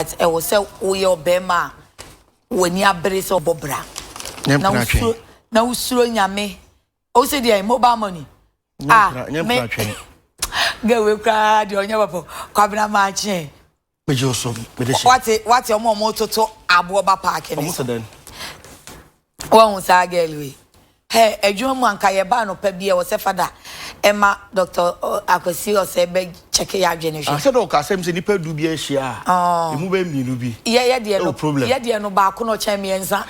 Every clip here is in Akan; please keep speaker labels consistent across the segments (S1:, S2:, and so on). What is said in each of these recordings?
S1: but ɛwɔ sɛ woyɛ ɔbɛrima a w'ani abere sɛ ɔbɔ bra na wosuro na wosuro nyame o sɛ deɛ mobile money ah me gawe koraa deɛ ɔnyɛ bɔbɔ kwabena maakye wate wate ɔmo ɔmo toto aboɔ ba paaki ne so Woahu saa girl wei? Hey, adwuma mu anka yɛba anɔpa bi ɛwɔ sɛ fada ɛma Doctor Akwasi Ɔsɛe bɛ check yɛ adwene hwɛ. Asɛ dɛ ɔka asɛm sɛ nipa
S2: du bi ahyia a emu bɛ mmienu bi ɛwɔ problem.
S1: Yɛ deɛ no baako na
S2: ɔkyɛn
S1: mmiɛnsa.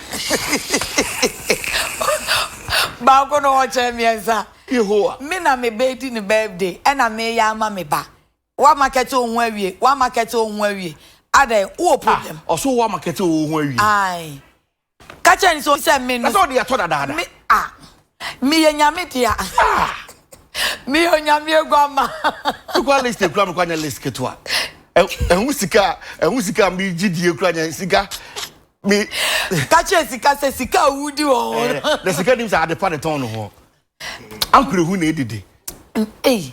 S1: Baako na ɔkyɛn mmiɛnsa. Yehowa. Me na
S2: me bɛ di
S1: ne birthday ɛna me yɛ ama me ba. Wa market wo ho awie, wa market wo ho awie. Adɛn, wo wɔ problem. Ah, ɔso wa market wo
S2: ho awie. Ae.
S1: Ka kyerɛ no sɛ ɔnyi sɛ me no. Na sɛ ɔde yɛ atɔ dadaada. Me
S2: a,
S1: meyɛ Nyame dea. Meyɛ Onyame aguamma. Sukuu list
S2: ekura me kura nyɛ list ketewa. Ɛho sika a, ɛho sika a me gye die kura nyɛ sika. Me. Ka kyerɛ
S1: sika sɛ sika a wudi wɔ hɔ no. Na sika nim sɛ
S2: adepa ne tɔn no hɔ. Ankorahu na edidi. Ei.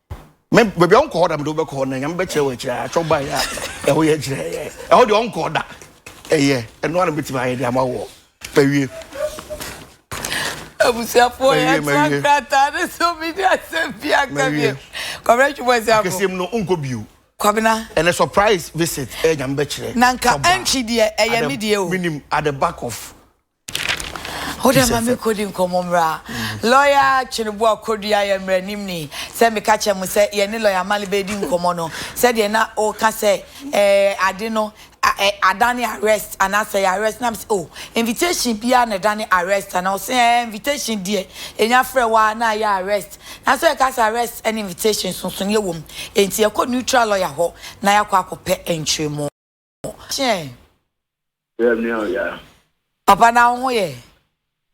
S2: me baabi a ɔnkɔɔ da mede wobɛkɔ hɔ na nyame bɛkyerɛ wɔ akyirɛ atwɔ baeɛ a ɛho yɛ kyerɛ yɛ ɛhɔ deɛ ɔnkɔɔ da ɛyɛ ɛno ara na bɛtumi ayɛ de ama woɔ bɛwie
S1: abusuafoɔ yɛtra krataa ne so medi asɛm bi aka bio kɔbrɛ twebɔ asiafo akɛseɛm no wonkɔ bio
S2: kwabena ɛnɛ
S1: surprise
S2: visit ɛyɛ nyame bɛkyerɛ na nka ɛntwe deɛ
S1: ɛyɛ me deɛ o menim at the back of Wo dɛ ma me kodi nkɔmmɔ mmra. Lɔya Tweneboa Kodua yɛ mmranimni. Sɛ meka kyerɛ mo sɛ yɛne Lɔya Male bɛredi nkɔmmɔ no, sɛdeɛ na ɔreka sɛ ɛɛ ade no ɛ adane arrest anaasɛ ɛyɛ arrest na mesɛ oh invitation biara na ɛdane arrest anaa? Ɔse ɛɛ invitation deɛ yɛnya frɛ wo ara na ayɛ arrest. Nanso yɛka sɛ arrest ne invitation nsonsonoeɛ wɔ mu. Enti yɛkɔ neutral lɔya hɔ na yɛakɔ akɔpɛ nkyerɛmu. Kyɛn. Yɛ
S3: nua o yɛ. Papa
S1: na wo ho yɛ.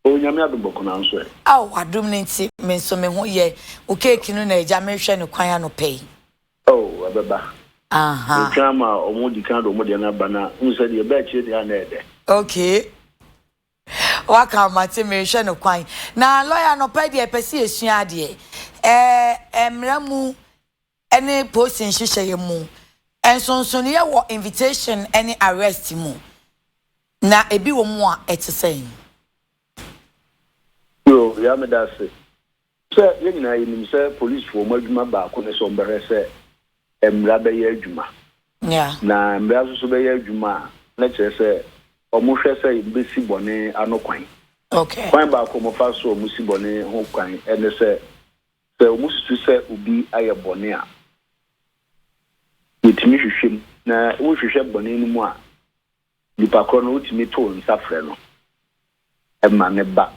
S1: O nyame
S3: adum bɔkɔ na nso ɛ. Ao wadum ne nti
S1: me nso me ho yɛ o keeki no na agya me hwɛ no kwan anɔpɛ yi. Oh ɛbɛba.
S3: Aha. Me twa ama ɔmo di kan de ɔmo deɛ no aba na hu sɛ deɛ ɛbɛ akyire deɛ a na ɛdɛ. Okay.
S1: Waka mate me hwɛ no kwan. Na lawyer anɔpɛ deɛ pɛ sɛ yɛ sua adeɛ. Eh eh mmara mu ne posi nhyehyɛeɛ mu, nsonsonoeɛ wɔ invitation ne arrest mu, na ebi wɔ mu a ɛte sɛn?
S3: Yoo, Yaa meda ase sɛ yɛn nyinaa yɛnim sɛ polisfoɔ wɔn adwuma baako ne sɛ wɔbɛhwɛ sɛ mmara bɛyɛ adwuma. Yeah. Na mmara nso so bɛyɛ adwuma a, na kyerɛ sɛ wɔhwɛ sɛ wɔbɛsi bɔne ano kwan. Okay. Kwan
S1: baako wɔfa
S3: so a wɔsi bɔne ho kwan ne sɛ Sɛ wosusu sɛ obi ayɛ bɔne a, wotumi hwehwɛ mu, na wohwehwɛ bɔne no mu a, nipa korɔ no wotumi to nsa frɛ no ma no ba,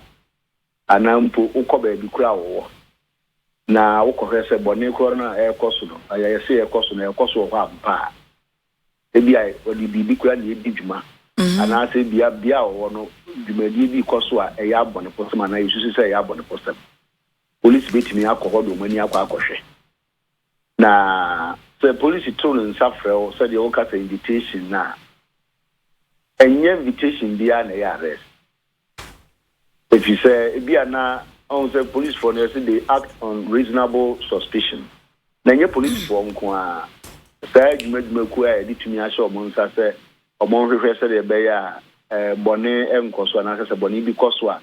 S3: anaa mpo wokɔ baabi korɔ a ɔwɔ na wokɔhwɛ sɛ bɔne korɔ no a ɛrekɔ so no, ɛyɛ sɛ ɛrekɔ so no, ɛrekɔ so wɔ hɔ ampa a. Ebia ɔde biribi korɔ na ɛredi dwuma, anaasɛ ebia bea a ɔwɔ no dwumadie bi rekɔ so a ɛyɛ abɔnefosɛm anaa yɛsusu sɛ ɛyɛ abɔnefosɛm. Polisi betumi akɔ hɔ de wɔn ani akɔ akɔhwɛ. Na sɛ polisi to ne nsa frɛ wo sɛdeɛ woka sɛ invitation no a, ɛnyɛ invitation biara na ɛyɛ arrest. Efisɛ ebia na ɔhu sɛ polisifoɔ no yɛse they act on reasonable suspicion. Na ɛnyɛ polisifoɔ nko ara, saa adwuma adwumakuo a yɛde tumi ahyɛ wɔn nsa sɛ wɔnhwehwɛ sɛdeɛ ɛbɛyɛ a bɔne nkɔ so anaasɛ sɛ bɔne bi kɔ so a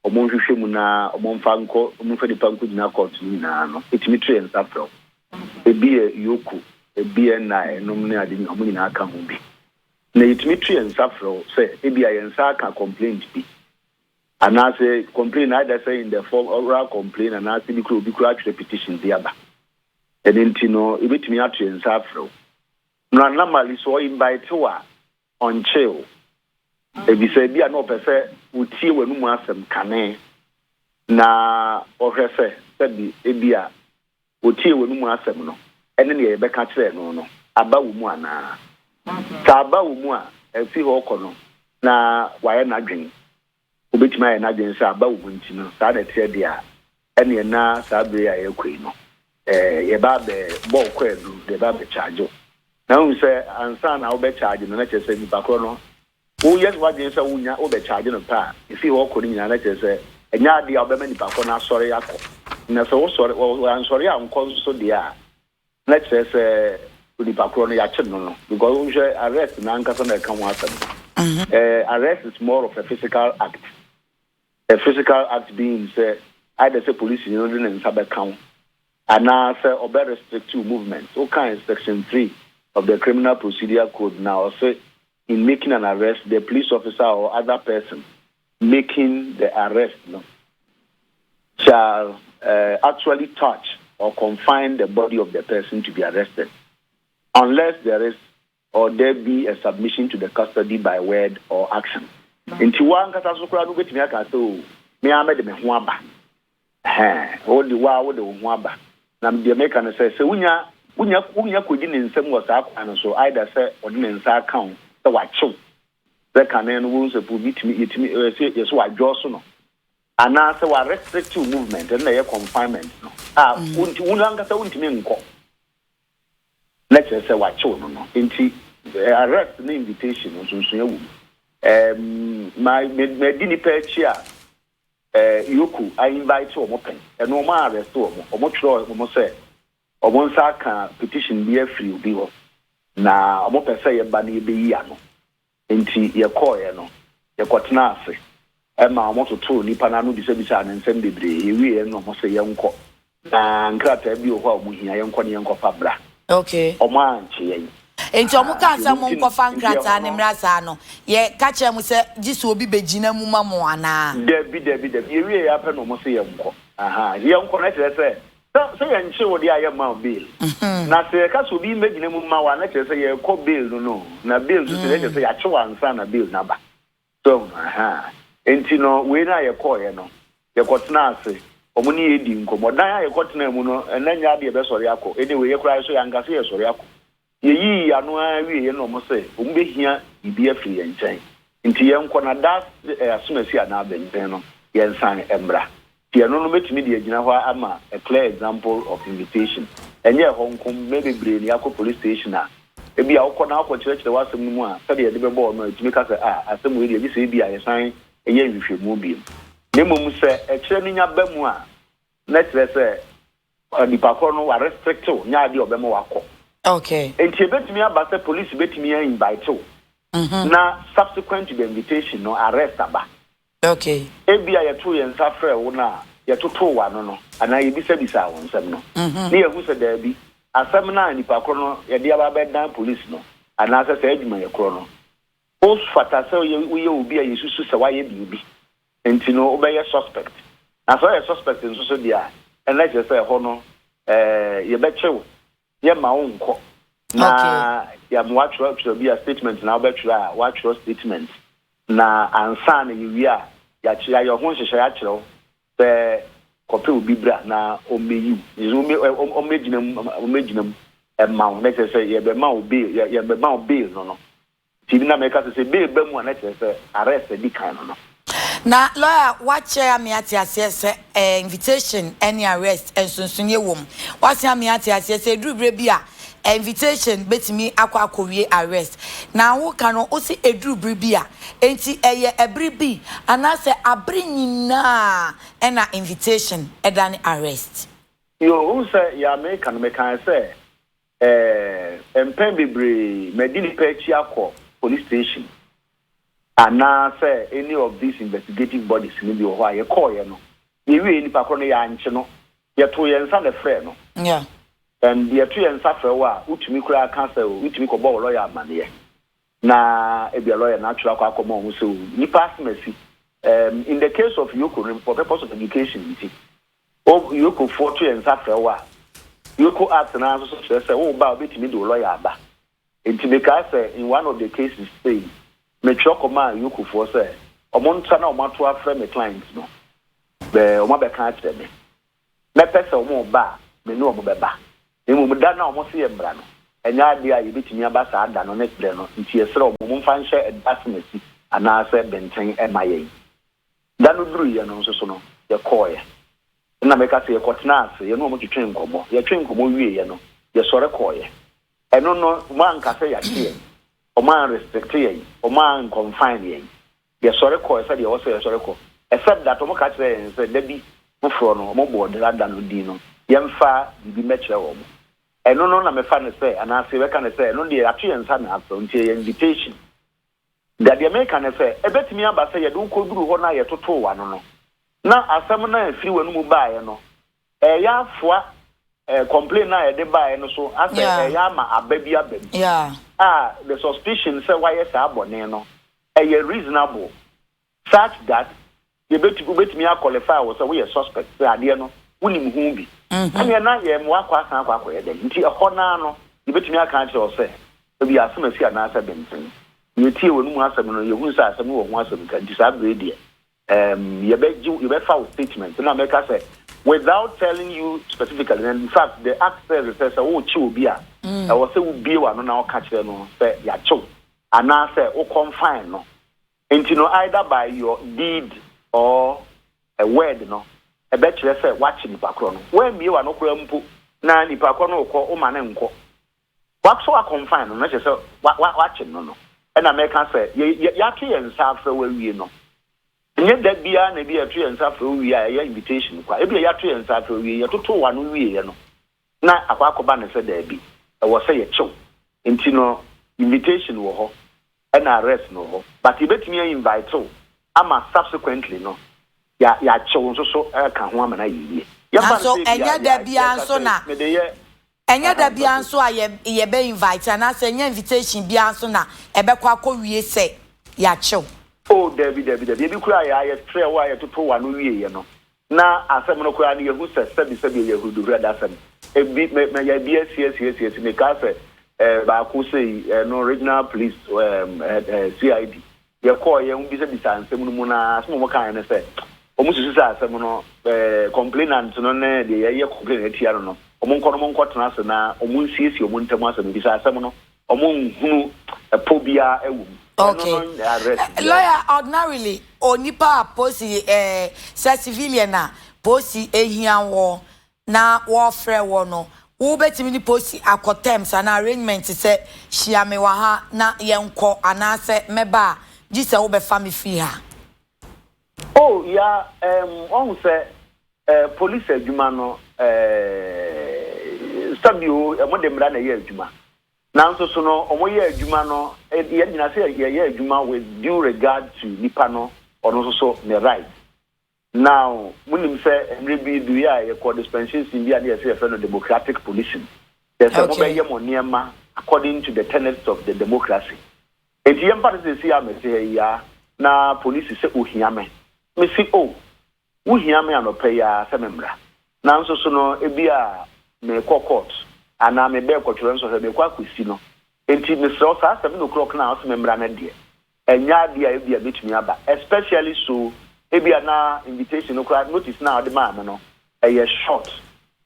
S3: wɔnhwehwɛ mu na wɔmfa nkɔ wɔmfa nipa nkɔgyina kɔɔto no nyinaa no, ɛtumi to yɛn nsa frɛ wo. Ɛbi yɛ Yoko, ɛbi yɛ nna nom ne ade nyinaa, wɔn nyinaa ka ho bi. Na ɛtumi to yɛn nsa frɛ wo sɛ ebia yɛn nsa aka complaint bi, anaasɛ complaint no either sɛ in the form oral complaint anaasɛ bi koraa obi koraa atwerɛ petition de aba. Ɛno nti no, yɛbɛtumi ato yɛn nsa afrɛ wo. Na normally sɛ ɔinvite wo a, ɔnkyee wo, efisɛ ebia na ɔpɛ sɛ otie w'anom asɛm kane na ɔhwɛ sɛ sɛbe ebia otiee w'anom asɛm no ne nea yɛbɛka kyerɛɛ no no aba wo mu anaa. Sɛ aba wo mu a, afi hɔ rekɔ no na wayɛ n'adwene obetumi ayɛ n'adwene sɛ aba wom nti no, saa na ɛteɛ de a, ɛneɛ na saa bere yi a yɛrekɔ yi no, yɛba abɛbɔ wo kwaadu de ɛba abɛkyaagye wo. Na wohu sɛ ansa na wobɛkyaagye no, na kyerɛ sɛ nipa korɔ no, woyɛ w'adwene sɛ wonya wobɛkyaagye no pɛ a, ɛfiri hɔ kɔ no nyinaa, na kyerɛ sɛ ɛnyɛ adeɛ a wobɛma nipa korɔ no asɔre akɔ. Na sɛ wosɔre, wansɔre ankɔ nso deɛ a, na kyerɛ sɛ onipa korɔ no yɛakyere no no because wonhwɛ arrest no ankasa na ɛka ho asɛm no uh, arrest is more of a physical act a physical act being sɛ either sɛ polisi no de ne nsa bɛka wo anaasɛ ɔbɛ restrict you movement wokae section 3 of the criminal procedure code na ɔse in making an arrest the police officer or other person making the arrest no shall actually touch or confine the body of the person to be arrested unless there is or there be a submission to the custody by word or action. Nti wo ankasa so koraa no wobɛtumi aka sɛ, Oo, me ara mɛde me ho aba Ɛhɛɛ, wo de, wo ara wode wo ho aba. Na deɛ meka ne sɛ, sɛ wonya, wonya, wonya kɔdi ne nsam wɔ saa kwan no so, either sɛ ɔde ne nsa aka wo sɛ wakye wo, sɛ kane no wohu sɛ obi tumi, yɛtumi, ɛɛ, sɛ yɛsɛ wadwɔɔso no, anaa sɛ wa restrict wo movement, ɛno na ɛyɛ confinement no, a wonti, wo ankasa wontumi nkɔ, na kyerɛ sɛ wakye wo no no. Nti, ɛɛ, arrest ne invitation no, nsonsonoeɛ wɔ mu. Ɛɛm, ma, ma, madi nnipa akyi a, Yoku a invite wɔn pɛn ɛno wɔn a arrest wɔn wɔn twerɛ wɔn sɛ wɔn nsa aka petition bi afiri obi hɔ na wɔn pɛ sɛ yɛba na yɛbɛyi ano nti yɛkɔɔɛ no yɛkɔtena ase ɛma wɔn totoo nipa no ano bisabisaa no nsɛm bebree yɛwieɛ no wɔn sɛ yɛnkɔ Na nkrataa bi wɔ hɔ a wɔn hia, yɛnkɔ na yɛnkɔfa bra. Okay. Wɔn
S1: ankye yɛn.
S3: Enti wɔn kaa
S1: sɛ mo nkɔfa nkrataa no mmra saa no, yɛ ka kyerɛ mo sɛ gye sɛ obi bɛ gyina mu ma mo anaa? Dabi, dabi, dabi. Yɛ
S3: wie yɛ ara pɛ na wɔn se yɛ nkɔ. Aha, nti yɛ nkɔ no kyerɛ sɛ, sɛ, sɛ yɛ nkye wo deɛ a yɛ mma wo bail. Na sɛ yɛ ka sɛ obi mmɛ gyina mu mma wo a, na kyerɛ sɛ yɛ kɔ bail no no. Na bail nso sɛ, na kyerɛ sɛ yɛ akye wo ansa na bail no aba. So hu? Ahaa. Enti no, wei no a yɛkɔeɛ no, yɛkɔtenaa ase, wɔn ne yɛn dii nkɔmmɔ. Dan a yɛkɔtenaa mu no, na nnya adeɛ yɛbɛsɔre akɔ. Anyway, yɛn koraa yɛn nso yɛanka sɛ yɛresɔre akɔ. Yɛyii yɛn ano ara wieeɛ no, wɔn se wɔbɛhia biribi afiri yɛn nkyɛn, enti yɛnkɔ, na da a asɛm asi anaa bɛnbɛn no, yɛnsan mmra. Deɛ ɛno no mɛtumi de agyina hɔ ama a clear example of invitation. Ɛnyɛ ɛhɔ nko, mmɛ bebree na yɛakɔ police station a, ebia wokɔ na wɔkɔkyerɛkyerɛ wo asɛm no mu a, sɛdeɛ yɛde bɛbɔ wo no a, ɛtumi ka sɛ, ah, asɛm wei deɛ, gye sɛ ebia yɛsan yɛ nhwehwɛmu bio. Na mmom sɛ ɛkyerɛ no nya ba mu a, na ɛkyerɛ sɛ Nipa korɔ no wa restrict wo nyɛ adeɛ a ɔbɛma wakɔ. Okay. Nti
S1: ebetumi aba
S3: sɛ police betumi a invite wo na subsequent to the invitation no arrest aba. Okay.
S1: Ebia yɛtoo
S3: yɛn nsa frɛɛ wo no a yɛtotoo w'ano no anaa yɛbisabisaa wo nsɛm no ne yɛahu sɛ daabi asɛm no a nipa korɔ no yɛde aba abɛdan police no anaasɛ saa adwumayɛ korɔ no wofata sɛ woyɛ obi a yɛsusu sɛ woayɛ biribi Nti no wobɛyɛ suspect. Na sɛ woyɛ suspect nso so deɛ a, ɛnna kyerɛ sɛ ɛhɔ no eh, yɛbɛkye wo, yɛmma wo nkɔ, na yɛama woatwerɛ twerɛ bi a statement na wobɛtwerɛ a, woatwerɛ statement, na ansa na yɛwie a, yɛakye, yɛayɛ wo ho nhyehyɛe akyerɛ wo sɛ kɔpɛ obi bra na ɔmmɛyi wo, nti sɛ ɔmmɛ, ɛ, ɔ, ɔmmɛgyina mu, ɔmmɛgyina mu mma wo, na kyerɛ sɛ yɛbɛma wo bail, yɛ, yɛbɛma wo bail no no, Ti bi na meka sɛ sɛ bi reba mu a na kyerɛ sɛ arrest adi kan no no. Na lawyer
S1: wakyerɛ ame ate aseɛ sɛ eh, invitation ne arrest nsonsoneɛ wom. Wase ame ate aseɛ sɛ ɛduru berɛ bi a eh, invitation bɛtumi akɔ akɔwie arrest. Na woka no wose ɛduru bere bi a, enti ɛyɛ ɛbere bi anaasɛ abere nyinaa ɛna invitation ɛdane arrest?
S3: Yoo,
S1: wohu sɛ
S3: yea meka no mekaeɛ sɛ Ɛɛ, mpɛn bebree madi nnipa akyi akɔ police station anaa sɛ any of these investigative bodies no bi wɔ hɔ a yɛkɔɔeɛ no, yɛwiee nnipa korɔ no yɛankye no, yɛtoo yɛn nsa na ɛfrɛɛ no. Yeah. And
S1: deɛ ɛto
S3: yɛn nsa frɛ wo a, wotumi koraa ka sɛ wotumi kɔbɔ wo lɔya amaneɛ. na ebia lɔya no atwerɛ akɔ akɔma wɔn sɛ o, nnipa asem asi. Um, in the case of Yoko no, for purpose of education nti, o, Yokofoɔ to yɛn nsa frɛ wo a, Yoko Act no ara nso so kyerɛ sɛ wo ba a, wobɛtumi de wo lɔya aba. Nti mekae sɛ, in one of the cases sei, metwerɛ kɔmaa Yokofoɔ sɛ wɔntra na wɔato afrɛ me client no, bɛ, wɔabɛka akyerɛ me. Mɛpɛ sɛ wɔba a, me ne wɔn bɛba. Na mmom da no a wɔse yɛmmra no, ɛnyɛ ade a yebetumi aba saa da no ne bere no, enti yɛsrɛ wɔn, momfa nhyɛ ɛda asɛnasi anaasɛ benten mma yɛn. Da no duruiɛ no nso so no, yɛkɔeɛ. Ɛnna meka sɛ, Yɛkɔtenaa ase, yɛne wɔn twetwee nkɔmmɔ. Yɛtwee nkɔmmɔ wieeɛ no, yɛsɔre kɔeɛ. Ɛno no, wɔanka sɛ yɛagye yɛn, wɔanrestrikte yɛn, wɔankɔnfaen yɛn. Yɛsɔre kɔe sɛdeɛ ɛwɔ sɛ yɛsɔre kɔ, except that wɔka kyerɛɛ yɛn sɛ da bi foforɔ no wɔbɔɔ dera da no din no yɛmfa biribi mmɛkyerɛ wɔn. Ɛno no na mefa no sɛ, anaase yɛbɛka no sɛ, ɛno deɛ yɛato yɛn nsa na afrɛ wo nti ɛyɛ invitation. Da deɛ meka ne sɛ, ɛbɛtumi aba sɛ yɛde wo kɔduruu hɔ no a yɛtotoo w'ano no, na asɛm no a ɛfiri w'anomu baeɛ no Ɛreyɛ afoa eh, complain no a ɛde baeɛ no so asɛ Yeah. ɛreyɛ ama aba bi aba mu Yeah. a
S1: the suspicion
S3: sɛ wayɛ saa bɔne no ɛyɛ reasonable such that yɛbɛtu wobɛtumi a qualify wo sɛ woyɛ suspect sɛ adeɛ no wonim ho bi ɛneɛ na yɛ mmoa akɔ asan akɔ akɔyɛ dɛn nti ɛhɔ no ara no yɛbɛtumi aka akyerɛ wo sɛ ebi asɛm asi anaasɛ benten yɛtie w'anomu asɛm no yɛhunu sɛ asɛm no wɔ ho asɛm ka nti saa berɛ yi deɛ Ɛɛm yɛbɛgye wo, yɛbɛfa wo statement na mɛka sɛ without telling you specifically, na in fact the act says it sɛ sɛ worekye obi a, ɛwɔ sɛ wobue w'ano na woka kyerɛ no sɛ yɛakye wo anaasɛ wo confine no. Enti no either by your deed or a word no, ɛbɛkyerɛ sɛ woakye nipa korɔ no. Woammue w'ano koraa mpo na nipa korɔ no rekɔ, woma no nkɔ. Wato akɔmfan no, na kyerɛ sɛ wɔakyem no no. Ɛnna mɛka sɛ, Yɛato yɛn nsa afrɛ wo awie no. Ɛnyɛ da biara na ebia yɛto yɛn nsa frɛ wo wie a ɛyɛ invitation kwa. Ebia yɛato yɛn nsa afrɛ wo wie, yɛtotoo w'ano wieeɛ no, na akɔ akɔba no sɛ, Dabi, ɛwɔ sɛ yɛkye wo. Enti no, invitation wɔ hɔ. Ɛna rest no wɔ hɔ but yɛbɛtumi a invite wo ama subsequently no ya yɛakyɛ wo nso so aka ho ama no ayɛ yie. Yɛmfa no Nanso sɛ ebia ɛnyɛ da yɛ biara
S1: yɛka nso sɛ na mede yɛ ɛnyɛ da aha biara mpatu. nso a yɛ yɛbɛ invite anaasɛ ɛnyɛ invitation biara nso na ɛbɛkɔ akɔwie sɛ yɛakyɛ wo. Oh dabi dabi
S3: dabi ebi koraa yɛ a yɛfrɛ wo a yɛtoto w'ano wieɛ no Na asɛm no koraa no, yɛahu sɛ sɛbisɛbi ɛyɛ huruduhwrɛde asɛm. Ebi, me, mɛyɛ ebi asi, asi, asi, asi. Mekaa sɛ, eh, baako sei, eh, no Regional Police, um, head, eh, CID. Yɛkɔɔ, yɛ, wobisabisaa nsɛm no mu no ara, asɛm a wɔkaeɛ ne sɛ, wɔn susu sɛ asɛm no, eh, complainant no ne deɛ yɛyɛ complain atia no no, wɔn nkɔ no wɔn nkɔtena ase na wɔn nsiesie wɔn ntam asɛm no, efisɛ asɛm no, Ɔmo nhunu ɛpɔ biara wɔ mu. Ɛno no nyɛ arrest
S1: biara. Okay. Lawyer, ordinarily, onipa a polisi eh, sɛ civilian a polisi ehia wɔ na wɔɔfrɛ wɔ no, wo bɛtumi ne polisi akɔ terms anaa arrangement sɛ hyia me wɔ ha na yɛnkɔ anaasɛ mɛba a gye sɛ wo bɛfa me firi ha.
S3: O ya ehm wahu sɛ eh police adwuma no eeh sɛbio ɔmo de mmra na ɛyɛ adwuma nanso so no ɔmo yɛ adwuma no yɛn nyinaa sɛ yɛ yɛ adwuma with due regard to nipa no ɔno nso so ne right now mo nim sɛ mmere bi du yɛ a yɛ kɔ dispensation bi a ne yɛ sɛ yɛ fɛ no democratic policing yɛ sɛ mo bɛ yɛ mo nneɛma according to the tenets of the democracy Enti yɛmfa no sɛ seesei a mete ha yi ara na polisi sɛ ohia me. Mise, O, wohia me anɔpa yi ara sɛ memmra. Nanso so no ebia merekɔ kɔɔt, anaa mebɛn kɔtwerɛ nsɔhwɛ, merekɔ akɔsi no. Enti mesrɛ wo, saa seven o'clock no a wose memmra no deɛ, ɛnyɛ adeɛ a ebia mɛtumi aba, especially so ebia na invitation no koraa, notice no a wode maa me no, ɛyɛ short.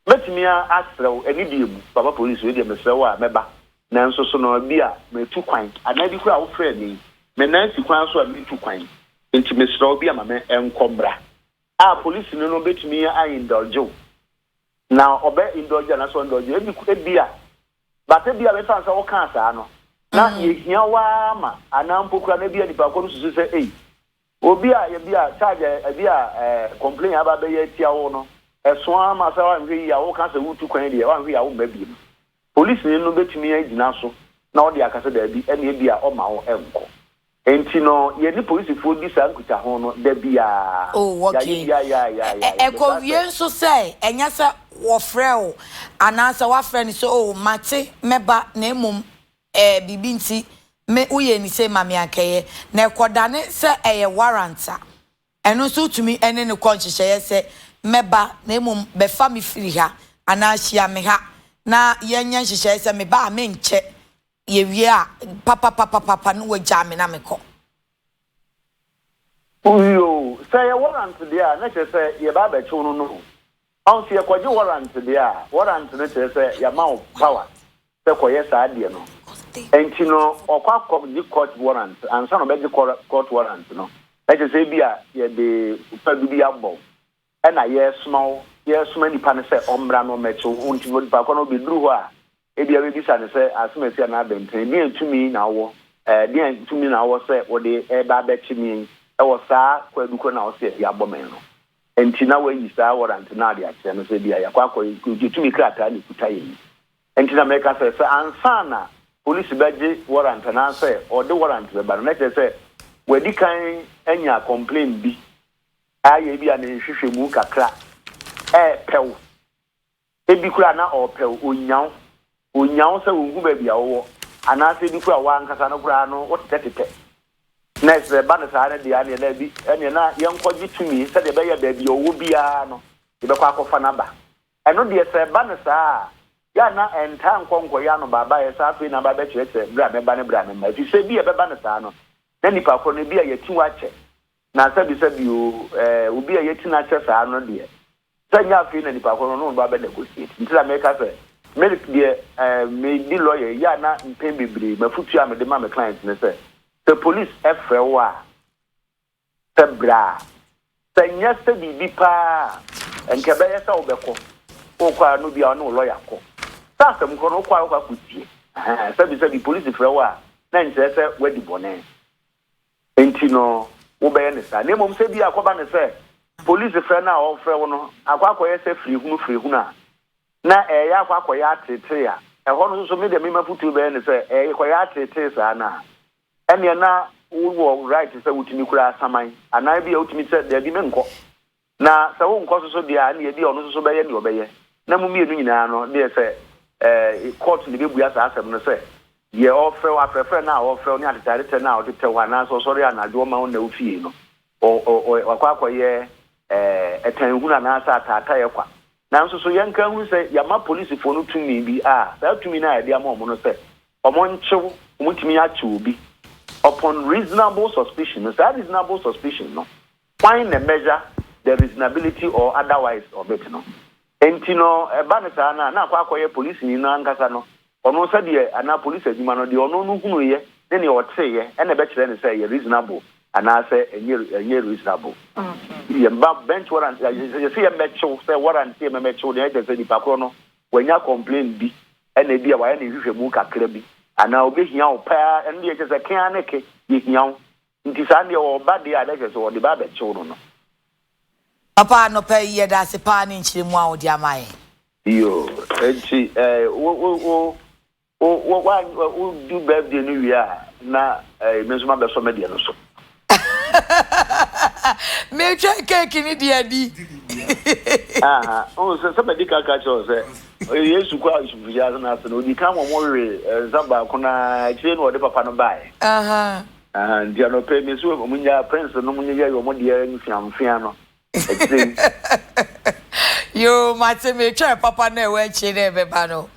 S3: Mɛtumi asrɛ wo, anibie mu, Papa Polisi, wei deɛ mesrɛ wo a, mɛba. Nanso so na bi a matu kwan? Anaa bi koraa a wofrɛɛ me yi, me nan si kwan so a meretu kwan, enti mesrɛ wo bi a ma me nkɔ mmra. A polisini no betumi a indulge wo, na ɔbɛ indulge anaasɛ ɔn indulge wo, ebi, ebia, but ebia mefa no sɛ wokaa saa no, na yɛhia wo ara ma, anaa mpo koraa na ebia nnipa koro no susu sɛ ei, Obi a ebi a charge a ebi a ɛɛ complain aba abɛyɛ atia wo no, ɛso ara ma sɛ woanhwɛ yie a woka sɛ wotu kwan deɛ woanhwɛ yie a womma bio. Polisini no bɛtumi agyina so na ɔde aka sɛ daabi ɛnna ebi a ɔmma wo nkɔ. Enti no yɛne polisifoɔ di saa nkutaho no da biara. Oh, okay. Yɛayɛ bi a yɛ a yɛ a yɛ a yɛpɛ
S1: saa sɛ. Ɛkɔwie nso sɛ ɛnyɛ sɛ wɔfrɛ wo anaasɛ woafrɛ no sɛ oh mate mɛba na mmom ɛɛ biribi nti me woyɛɛ me sei ma me a nkɛyɛ na ɛkɔdane sɛ ɛyɛ warrant a, ɛno nso wotumi ne no kɔ nhyehyɛeɛ sɛ mɛba na mmom bɛfa me firi ha anaa hyia me ha na yɛnyɛ nhyehyɛeɛ sɛ meba a menkyɛ, yɛwie a papapapapapa na wɔagyaa me na mekɔ.
S3: Wowie o, sɛ ɛyɛ warrant deɛ a na kyerɛ sɛ yɛba abɛkye wo no no o. Ɔho sɛ yɛkɔgye warrant deɛ a, warrant no kyerɛ sɛ yɛama wo power sɛ kɔyɛ saa adeɛ no. Ɛnti no ɔkɔ akɔgye court warrant ansa na ɔbɛgye court warrant no. Ɛkyerɛ sɛ ebia yɛde fadu bi abɔ wo ɛna yɛresoma wo, yɛresoma nipa no sɛ ɔmmra na ɔmmɛkye wo. Nti no nipa korɔ no ɔbɛduru hɔ a, Ebia wubebisa no sɛ, Asomasi anaa abɛntene bɛn tumi na ɔwɔ? Ɛɛ, deɛn tumi na ɔwɔ sɛ wode reba abɛkye me yi wɔ saa kwaadu korɔ no a ɔse de abɔ me no nti na woayi saa wɔrant no ade akyerɛ me sɛ ebia yɛakɔ akɔgye tumi krataa na ɛkuta yɛn yi? Nti na mereka sɛ, sɛ ansa na polisi bɛgye wɔrant anaasɛ ɔde wɔrant bɛba no na kyerɛ sɛ wadi kan anya kɔmplen bi ayɛ ebia ne nhwehwɛmu kakra, ɛɛ pɛw. Ebi koraa na ɔrepɛ wo, onnya wo. Onnya wo sɛ onhu baabi a wowɔ. Anaasɛ ebi koraa w'ankasa no koraa no wotetɛtetɛ. Na sɛ ɛba no saa no deɛ ɛnneɛ dabi, ɛnneɛ na yɛnkɔgye tumi sɛdeɛ ɛbɛyɛ a baabi a ɔwɔ biara no, yɛbɛkɔ akɔfa no aba. Ɛno deɛ sɛ ɛba no saa a, yɛ a na ɛntaa nkɔ nkɔyɛ anobaabaeɛ sɛ afei na aba abɛkyerɛkyerɛ berɛ a mɛba ne berɛ a memma. Ɛfiri sɛ ebia ɛbɛba no saa no, na nnipa korɔ no, ebia yɛati wo akyɛ. Na sɛbisɛbi o, eh, obi a yɛati no akyɛ saa no deɛ, sɛ ɛnyɛ afei na nipa korɔ no ɔne wo ba bɛ negotiate. Nti na meka sɛ, me deɛ, eh, medi lawyer yi a na mpɛn bebree m'afutuo a mede ma me client ne sɛ, sɛ police frɛ wo a, sɛ bra. Sɛ ɛnyɛ sɛ biribi paa a, ɛnka ɛbɛyɛ sɛ wobɛkɔ. Wokɔ a na obi a ɔne wo lawyer kɔ. Sɛ asɛm korɔ no wokɔ a wokɔ akɔtie. Ɛhɛn, sɛbisɛbi police frɛ wo a na ɛnkyerɛ sɛ woadi bɔne. Nti no wobɛyɛ no saa. Na mmom sɛ bi a akɔba no sɛ polisi frɛ no a ɔrefrɛ wo no akɔ akɔyɛ sɛ firihunu firihunu a na ɛreyɛ akɔ akɔyɛ ateetee a, ɛhɔ no nso me deɛ me m'afotuo bɛyɛ ne sɛ ɛrekɔyɛ ateetee saa no a, ɛnneɛ na wowɔ right sɛ wotumi kura saman anaa bi a wotumi sɛ daabi menkɔ. Na sɛ wonkɔ so so deɛ a, ɛnneɛ ebia ɔno nso so bɛyɛ deɛ ɔbɛyɛ, na mo mmienu nyinaa no deɛ sɛ ɛɛ kɔɔto na ebebua saa asɛm no sɛ, deɛ ɔrefrɛ wo, afrɛfrɛ no a ɔrefrɛ wo ne atetɛatetɛ no a ɔtetɛ wo anaasɛ ɔsɔre anadwo ɔma wonna wo fie no, ɔ, ɔ, ɔ, wakɔ akɔyɛ ɛɛ ɛtanhunu anaasɛ ataataeɛ kwa. Nanso so yɛnka nhunu sɛ yɛama polisifoɔ no tumi bi a saa tumi no a yɛde ama wɔn no sɛ wɔnkye wo, wɔtumi akye obi upon reasonable suspicion no, saa reasonable suspicion no, Hwan na measure the reasonability or otherwise of it no? Enti no ɛba no saa no a na akɔ akɔyɛ polisini no ankasa no ɔno nsa deɛ anaa police adwuma no deɛ ɔno no hunuiɛ ne nea ɔteeɛ ɛna ɛbɛkyerɛ no sɛ ɛyɛ reasonable anaasɛ ɛnyɛ ɛnyɛ reasonable. Yɛmma bench warrant yɛse yɛmmɛkyew sɛ warrant yɛ mɛmɛkyew deɛ ɛkyerɛ sɛ nipa korɔ no wanya complain bi ɛna ebi a wayɛ ne nhwehwɛmu kakra bi anaa ɔbɛhia wo paa ɛno deɛ ɛkyerɛ sɛ ke ara ne ke yɛhia wo Nti saa deɛ ɔɔba deɛ a na kyerɛ sɛ ɔde ba abɛkyew no no.
S1: Papa anɔpa yi yɛda ase paa ne nkyerɛmu a wode ama yɛn. Yoo
S3: nti eh wo wo wo wo wo wa wo di birthday no wie a na eh me nso ma bɛsɔ me deɛ no so.
S1: Metwɛn cake no deɛ adi. Aha wohu
S3: sɛ sɛ madi kan ka kyerɛ wo sɛ eh, Yesu kɔɔ asubufo hyia ase no ase no ɔdi kan ma wɔwee eh nsa baako no ara akyire na ɔde papa no baeɛ. Aha. Ahaa nti anɔpa yi mese wɔn nyaa prince nom no yɛyɛ wɔn deɛ mfeamfea no akyire
S1: yi. Yoo mate metwɛn papa no a ɛwɔ akyire dɛ ɛbɛba no.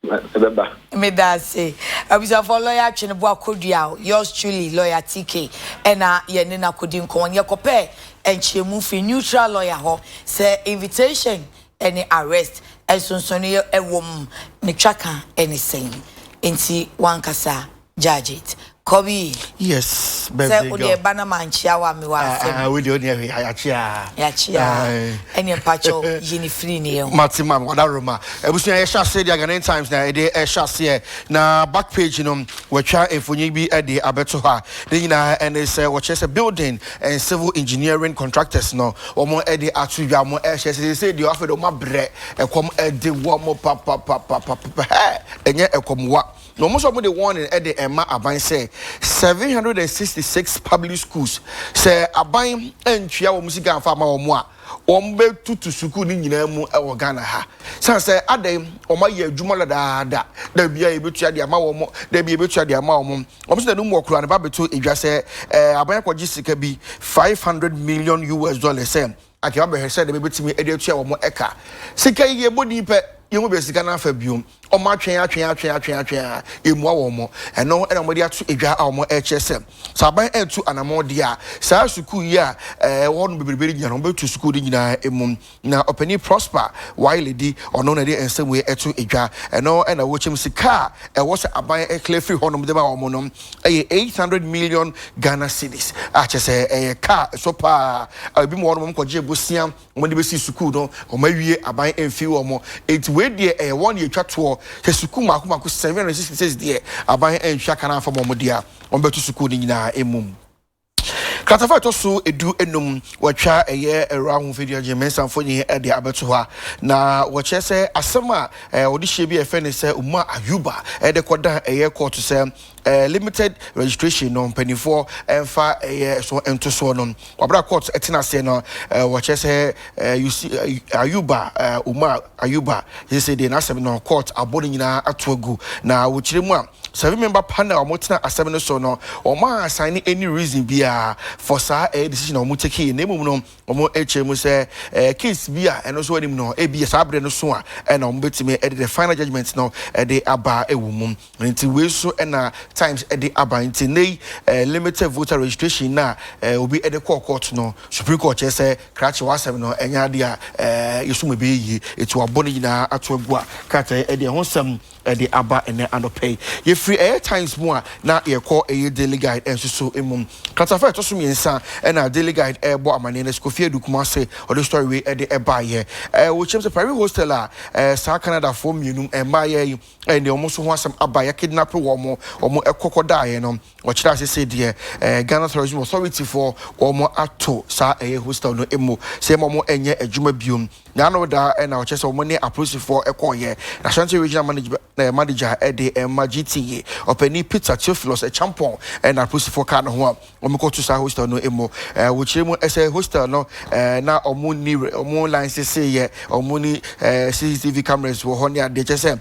S1: Ɛbɛba.
S3: Meda ase.
S1: Abusuafoɔ lɔya Atweneboa Kodua o, yours truly lɔya TK ɛna yɛne no akɔdi nkɔmmɔ no. Yɛkɔpɛɛ nkyerɛmu firi neutral lɔya hɔ sɛ invitation ne arrest nsonsonoeɛ wɔ mu ne twaka ne sɛn. Nti wankasa Judgeit, kɔ wii. Yes,
S2: birthday girl. Sɛ wo deɛ ba na mankyea wo a
S1: mewɔ asɛm. Ah ah, wo deɛ wo deɛ hwee, yɛakyea. Yɛakyea. Ɛneɛ mpakyɛw yi ne firi ne yɛn ho. Mate ma wɔda roma.
S2: Abusua yɛhyɛ aseɛ deɛ Ghanaian Times na ɛde ɛhyɛ aseɛ. Na back page no wɔatwa mfonyin bi de abɛto hɔ a ne nyinaa ɛne sɛ wɔkyerɛ sɛ building and civil engineering contractors no wɔn de ato dwa wɔn ɛhyɛ sɛ sɛ deɛ afei de wɔn abrɛ ɛkɔm ɛde wɔn papapapapapa hɛ ɛnyɛ ɛkɔm wa. Na wɔn nso wɔde warning de rema aban sɛ seven hundred and sixty six public schools sɛ aban antua wɔn sika anfa ama wɔn a wɔbɛtutu sukuu no nyinaa mu wɔ Ghana ha. San sɛ adɛn wɔayɛ adwuma dadaada da bia yɛbɛtua de ama wɔn da bia yɛbɛtua de ama wɔn. Wɔn sɛ nanum wɔ koraa ne ba bɛto edwa sɛ eh, aban akɔgye sika bi five hundred million US dollars sɛ Anka wɔabɛhwɛ sɛnea wobetumi de atua wɔn ka. Sika yi, yɛbɔ din pɛ, yɛn mu bɛyɛ sika no afa bio. Wɔatwe, atwe, atwe, atwe, atwe a, yɛmmua wɔn. Ɛno na wɔde ato edwa a wɔrekyerɛ sɛ, sɛ aban antu anammɔn deɛ a, saa sukuu yi a ɛwɔ hɔnom bebrebe no nyinaa no, wɔbɛtu sukuu no nyinaa mu. Na Ɔpanyin Prosper Waeledi, ɔno na ɛde nsɛm wei to edwa. Ɛno na wɔkyɛm sika a ɛwɔ sɛ aban kla firi hɔnom de ma wɔn no. ɛyɛ eight hundred million Ghana cedis a kyɛ sɛ ɛyɛ kaa a ɛsɔ paa a ebi mu wɔn wɔn kɔgye bosea wɔn de besi sukuu no wɔn awie aban mfi wɔn eti wei deɛ ɛyɛ wɔn deɛ etwa toɔ sɛ sukuu mako mako seven hundred sixty six deɛ aban antua kan afam wɔn deɛ a wɔn bɛto sukuu no nyinaa emum. Kratafa a ɛtɔ so du enum wɔatwa ɛyɛ Ɛwura Ahofadi Agyen Mensah mfoni de abɛto hɔ a na wɔkyerɛ sɛ asɛm a wɔde hyɛ bi a yɛfrɛ no sɛ Umar Ayuba de kɔdan ɛyɛ kɔɔto sɛ limited registration no mpanimfoɔ mfa ɛyɛ so nto soɔ no wɔabrɛ a kɔɔto tena aseɛ no wɔkyerɛ sɛ Yusi Ayuba Umar Ayuba sese deɛ n'asɛm no kɔɔto abɔ no nyinaa ato agu na wɔkyerɛ mu a Sɛ me member pa na ɔmo tena asɛm no so no, ɔmo a assign any reason biaa for saa ɛyɛ decision a ɔmo take yi, na mmom no ɔmo kyerɛ mu sɛ ɛyɛ case bi a ɛno nso anim no ebia saa berɛ no so a ɛna ɔmo bɛtumi de the final judgement no de aba wɔ mu. Nti wei nso na times de aba, nti nnɛ yi limited voter registration no a obi de kɔɔ court no, Supreme Court kyerɛ sɛ krakye w'asɛm no ɛnyɛ adeɛ a yɛsum ɛbɛyɛ yie, nti wabɔ ne nyinaa ato agu a krataa yi de ɛho nsɛm de aba ɛnnɛ anɔpa yi. Yɛfiri ɛyɛ Times mu a, na yɛrekɔ ɛyɛ Daily Guide nso so mu. Kratafa a ɛtɔ so mmiɛnsa na Daily Guide ɛrebɔ amaneɛ no, Kofi Adu Kumase ɔde story wei de ɛbaeɛ. Ɛwɔ kyɛm sɛ private hostel a saa Canadafoɔ mmienu mmaayɛ yi de wɔn nso ho asɛm aba, yɛakidnape wɔn, wɔn kɔ kɔdaeɛ no, wɔkyerɛ ase sɛ deɛ Ghana Tourism Authority foɔ wɔato saa ɛyɛ hostel no mu sɛ yɛma wɔn nyɛ adwuma biom. Nyaa no da na ɔkyerɛ sɛ wɔn ne apolisifoɔ kɔɔeɛ. Ashanti Regional Manage Manager de ma GTE ɔpanin Peter Theophilus Acheampong na apolisifoɔ kaa ne ho a wɔkɔ to saa hostel no mu. Wɔkyerɛ mu sɛ hostel no na wɔn nni wɔn license yɛ wɔn ni CCTV cameras wɔ hɔ ne adeɛ kyerɛ sɛ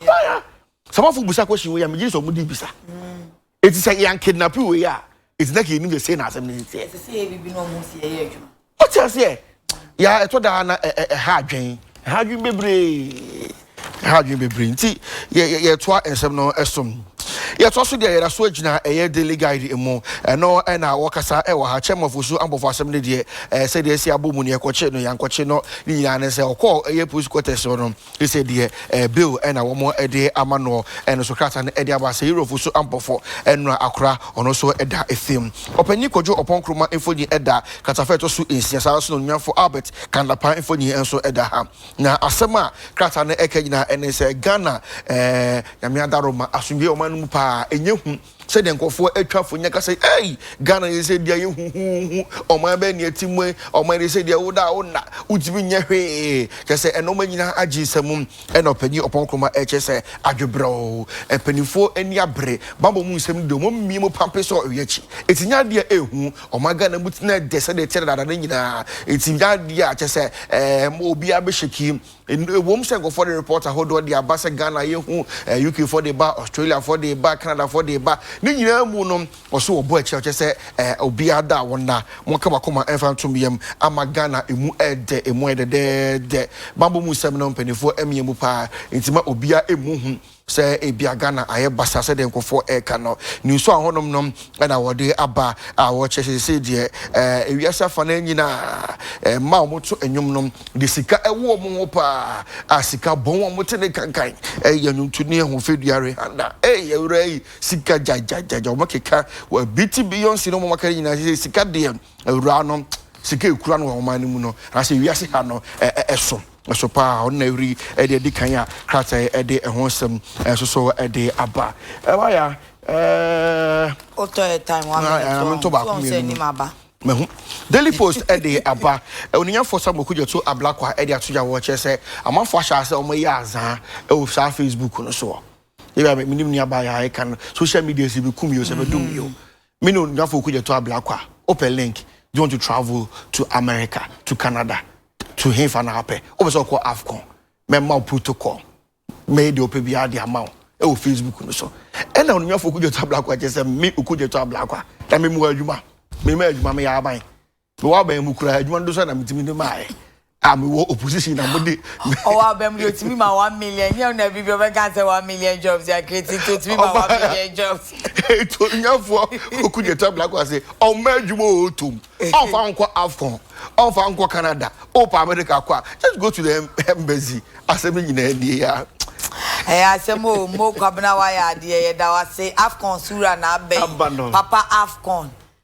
S2: fire samafo bisa question wei a megye sɛ ɔmo di bisa eti sɛ yɛn kidnap wei a eti na kìí nim sɛ sei na asɛm ne sisi ɛ. ɛsɛ sɛ yɛ bibi na ɔmo
S1: si ɛyɛ adwuma. o ti aseɛ
S2: yà ɛtɔ daa na ɛ ɛ ɛha adwen ɛha adwen bebree ɛha adwen bebree nti yɛ yɛ yɛtoa nsɛm no ɛsom yɛtoa so deɛ yɛda so agyina ɛyɛ daily guide mu ɛno ɛna wɔkasa ɛwɔ ha kyɛm of osu abɔfo asɛm no deɛ ɛɛ sɛdeɛ ɛsi abɔ mu ne ɛkɔkye no yankɔkye no ne nyinaa ne sɛ ɔkɔɔ ɛyɛ police quarters hɔ no Sɛ deɛ ɛɛ bill ɛna wɔn ɛde ama noɔ ɛno nso krataa no ɛde aba sɛ Eurofo so ampɔfɔ ɛnora akora ɔno nso ɛda ɛfam. Ɔpanyin Kwadwo Ɔpɔn Nkrumah mfoni ɛda kratafa a ɛtɔ so nsia saa ara nso na Onuamfo Albert Kandapaa mfoni nso ɛda ha. Na asɛm a krataa no ɛka nyinaa ɛne sɛ Ghana ɛɛ Nyame Adaworoma asomdwoeɛ ɔman no mu paa ɛnyɛ hu. Sɛdeɛ nkurɔfoɔ atwa fo nyɛ ka sɛ ei Ghana deɛ sɛ deɛ yɛ huhuuhu ɔman bɛn ne ɛte mu yi ɔman deɛ sɛ deɛ woda a wonna wotumi nyɛ hwee kyɛ sɛ ɛnɔma nyinaa agye nsam ɛna ɔpanyin ɔpɔn nkrumah ɛkyɛ sɛ adwebrɛw mpanimfoɔ ani abere bambɔ mu nsɛm no deɛ wɔn mmie mu pampe sɛ ɔyɛ akyi eti nyɛ adeɛ a ɛhu ɔman Ghana mu tena ɛdɛ sɛdeɛ ɛteɛ dadaada no nyinaa eti nyɛ adeɛ a kyɛ sɛ ɛɛ obiara bɛhyɛ ki Ɛwom sɛ nkurɔfoɔ de report ahodoɔ de aba sɛ Ghana yɛ hu, eh, UK foɔ de ba, Australia foɔ de ba, Canada foɔ de ba, ne nyinaa mu no wɔso wɔbɔ akyire ɔkyɛ sɛ eh, obiara da wɔn na wɔka wakoma ɛmfa ntom yam ama Ghana emu ɛdɛ emu ayɛ dɛdɛɛdɛ. Bambɔ mu nsɛm no mpanimfoɔ mmea mu paa nti ma obiara emu hu. sɛ ebia Ghana ayɛ basaa sɛdeɛ nkurɔfoɔ ɛreka no, nniso a hɔnom no na wɔde aba a wɔkyerɛ sɛ seesei deɛ eh, ewiase afa no nyina eh, mma a wɔto nnwom no de sika ɛwɔ wɔn ho paa a sika bɔn a wɔte ne kankan ɛyɛ nnwonto ne ɛho fɛdua rehanda ɛyɛ awura yi sika gyagyagyaga wɔkeka bi ti Beyonce no wɔmaka no nyinaa sɛ sika deɛ awura no sika ɛkura no wɔ ɔman no mu no anaasɛ ewiase ha no ɛsom So paa, ɔno na ɛhuri ɛde adi kan a krataa yi ɛde ɛho nsɛm ɛso so ɛde aba. Ɛwa ya ɛɛ.
S1: Otɔ yɛ time wa mi to ɔn to ɔn sɛ ɛnim
S2: aba. Mahu Daily Post ɛde aba onunyafo Samuel Kudzeto Ablakwa ɛde ato gya wɔ kyerɛ sɛ amanfo ahyɛ asɛ wɔn yɛ azaa ɛwɔ saa Facebook no soɔ. Ebi a menim ni aba yɛ ayɛ kan social media si bi kum yɛ o sɛ bɛ dum yɛ o. Me ne onuafo Okudzeto Ablakwa wopɛ link, do you want to travel to America, to Canada, to henfa na wopɛ? Wopɛ sɛ ɔkɔ Afcon? Mɛma wo protocol, mɛyɛ deɛ wopɛ biara de ama wo wɔ Facebook no so. Ɛna onuafo Okudzeto Ablakwa kyerɛ sɛ me Okudzeto Ablakwa na memmɔ adwuma, memmɔ adwuma, meyɛ aban. Mewɔ aban mu koraa adwuma no do so na metumi de maae a mewɔ opposition na mo de. Ɔwɔ aban mu de
S1: otumi ma one million nyɛ na bi bi ɔbɛka sɛ one million jobs yɛ create nti otumi ma one million jobs. Eto nyafoɔ
S2: oku de tɔ black ase ɔmma adwuma o tom ɔnfa nkɔ afcon ɔnfa nkɔ Canada ɔpa America kɔ a just go to the embassy asɛm nyinaa nie ya. Ɛyɛ
S1: asɛm o mo kwabena wayɛ adeɛ yɛda wase afcon so wura na abɛn papa afcon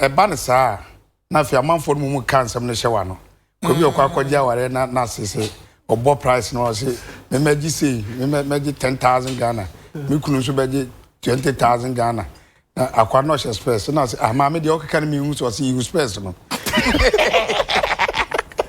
S4: Ɛba no saa a, na afei amanfoɔ no mu ka nsɛm no hyɛ w'ano. Kɔ bi ɔkɔ akɔgye awareɛ na n'ase sɛ ɔbɔ price no ɔse memɛgye sei memɛgye ten thousand Ghana me kunu nso bɛgye twenty thousand Ghana na akwa no ɔhyɛ spɛs na ɔse ah maame deɛ ɔkeka no mehu so ɔse yiwu spɛs no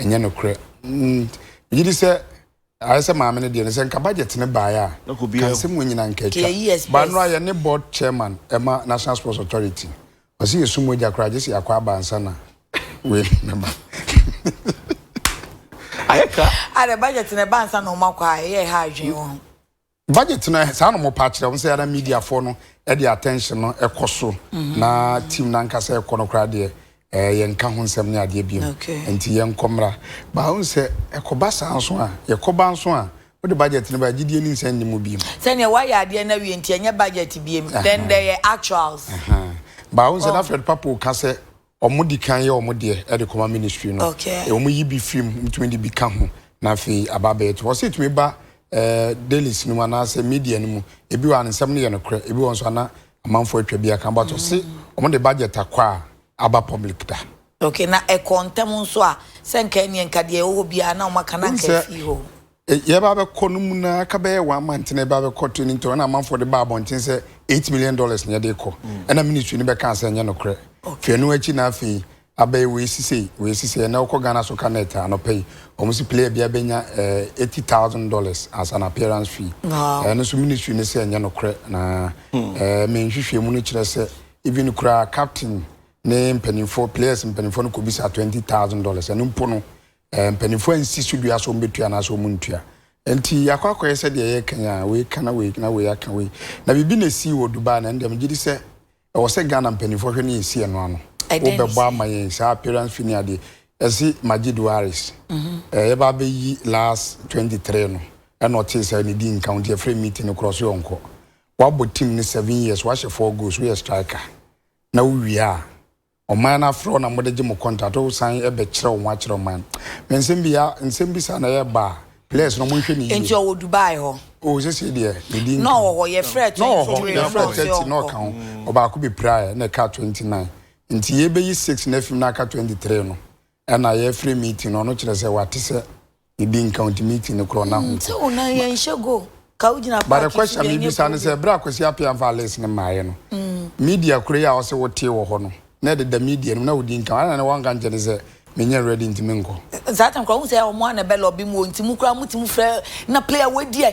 S4: Ɛnyɛ nokorɛ. Megye di sɛ ayɛ sɛ maame no deɛ no sɛ nka budget no baeɛ a, ka nsɛm wɔ nyina nka atwa. Ba nnora yɛ ne board chairman ɛma National Sports Authority. Ɔse yɛsu mogya koraa gyese yɛakɔ aba ansa na wei bɛba.
S2: Ayɛ ka. Adɛ budget no
S1: ɛba ansa na ɔmakɔ a, ɛyɛ ɛha adwene wɔ ho. Budget no
S4: saa na wɔpa akyerɛ wɔn sɛ ara media foɔ no ɛde attention no ɛkɔ so na team no ankasa ɛkɔ no koraa deɛ ɛɛ yɛn nka ho nsɛm ne adeɛ biem nti yɛn kɔ mmra baa wɔn sɛ ɛkɔba saa nso a yɛkɔba nso a wode budget no baa gyidie ne nsɛn ne mu biem. Sɛ neɛ wayɛ adeɛ
S1: no awie nti ɛnyɛ budget biem then dɛ yɛ actuals. Baa wɔn
S4: sɛ na Fred Papo ka sɛ Ɔmo di kan yɛ ɔmo deɛ ɛde kɔma ministry no. Okay. Eh, ɔmo yi bi firi mu, ntumi de bi ka ho, na afei aba abɛyɛ to. Ɔsɛ etumi ba eh, dailies no mu anaasɛ media no mu. Ebi wɔ a ne nsɛm no yɛ nokorɛ, ebi wɔ nso ana amanfoɔ atwa bi aka. But ɔse ɔmo de budget akɔ a aba public da. Okay, na ɛkɔɔ
S1: ntɛm nso a, sɛ nka ɛneɛ nka deɛ ɛwɔ hɔ biara na ɔmo aka na Wohu nka sɛ afii hɔ. Yɛreba abɛkɔ
S4: no mu no ara ka bɛyɛ one month na yɛba abɛkɔ training nti ɔna amanfoɔ de baa abɔnten sɛ eight million dollars na yɛde rekɔ ɛna ministry no bɛkaa sɛ ɛnyɛ nokorɛ firi ɛno akyi na afei abɛyɛ wei si sei wei si sei ɛnɛ wokɔ Ghana Soccer Net a anɔpa yi wɔn si player biara bɛnya eh, eighty thousand dollars as an appearance fee Wow. ɛno nso ministry no sɛ ɛnyɛ nokorɛ na eh, me nhwehwɛ mu no kyerɛ sɛ even koraa captain ne mpanimfoɔ players mpanimfoɔ no kɔbisa twenty thousand dollars ɛno mpo no Mpanimfoɔ ansi so dua sɛ wɔn bɛtua anaasɛ wɔn ntua. Nti yɛakɔ akɔyɛ sɛ deɛ yɛka yi a wei ka na wei na wei aka wei. Na biribi na ɛsii wɔ Dubai na ɛndeɛ megye di sɛ ɛwɔ sɛ Ghana mpanimfoɔ hwɛ na yɛsi ɛno ano. Wobɛbɔ ama yɛn saa appearance fee ne adeɛ. Ɛsi Majid Waris. Eh, yɛba abɛyi last 23 no. Ɛna ɔtee sɛ ne di nka wo nti ɛfrɛ meeting no korɔ so yɛ ɔnkɔ. Wabɔ team no seven years, wahyɛ four goals, woyɛ striker na wowie a Ɔman no afrɛ wo na mode gye mo contract wo san bɛ kyerɛ wo ho akyerɛ ɔman no me nsɛm bi ya nsɛm bi saa na yɛ ba a ples no mo nhwɛ ne yie. Nti ɔwɔ Dubai hɔ.
S1: Oh sesei deɛ
S4: ne din nka ho. Na ɔwɔ hɔ yɛfrɛ
S1: twenty three na ɔka ɔsɛ ɔnkɔ. Na ɔwɔ hɔ
S4: yɛfrɛ thirty na ɔka ho ɔbaako bɛ pira yɛ na ɛka twenty nine nti yɛ bɛ yi six na afim na aka twenty three no Ɛna yɛ frɛ meeting no ɔno kyerɛ sɛ wate sɛ ebi nka nti meeting no korɔ na ho nti. Sɛ ɔnan yɛn nhyɛ go
S1: ka wo gyina paaki so deɛ ɛnyɛ problem. But the question
S4: mi bisa ne sɛ ɛberɛ a Kwasi Appiah nfa list no maaeɛ no media korɔ yi a ɔse wo tee wɔ hɔ no na ɛdeda media no mu na ɔdi nka adɛn na wanka nkyɛ ne sɛ me nyɛ ready nti me nkɔ. Saa time korɔ wohu sɛ
S1: ɔmo a na ɛbɛ lobby mo nti mo koraa mo tumi frɛ na player wei deɛ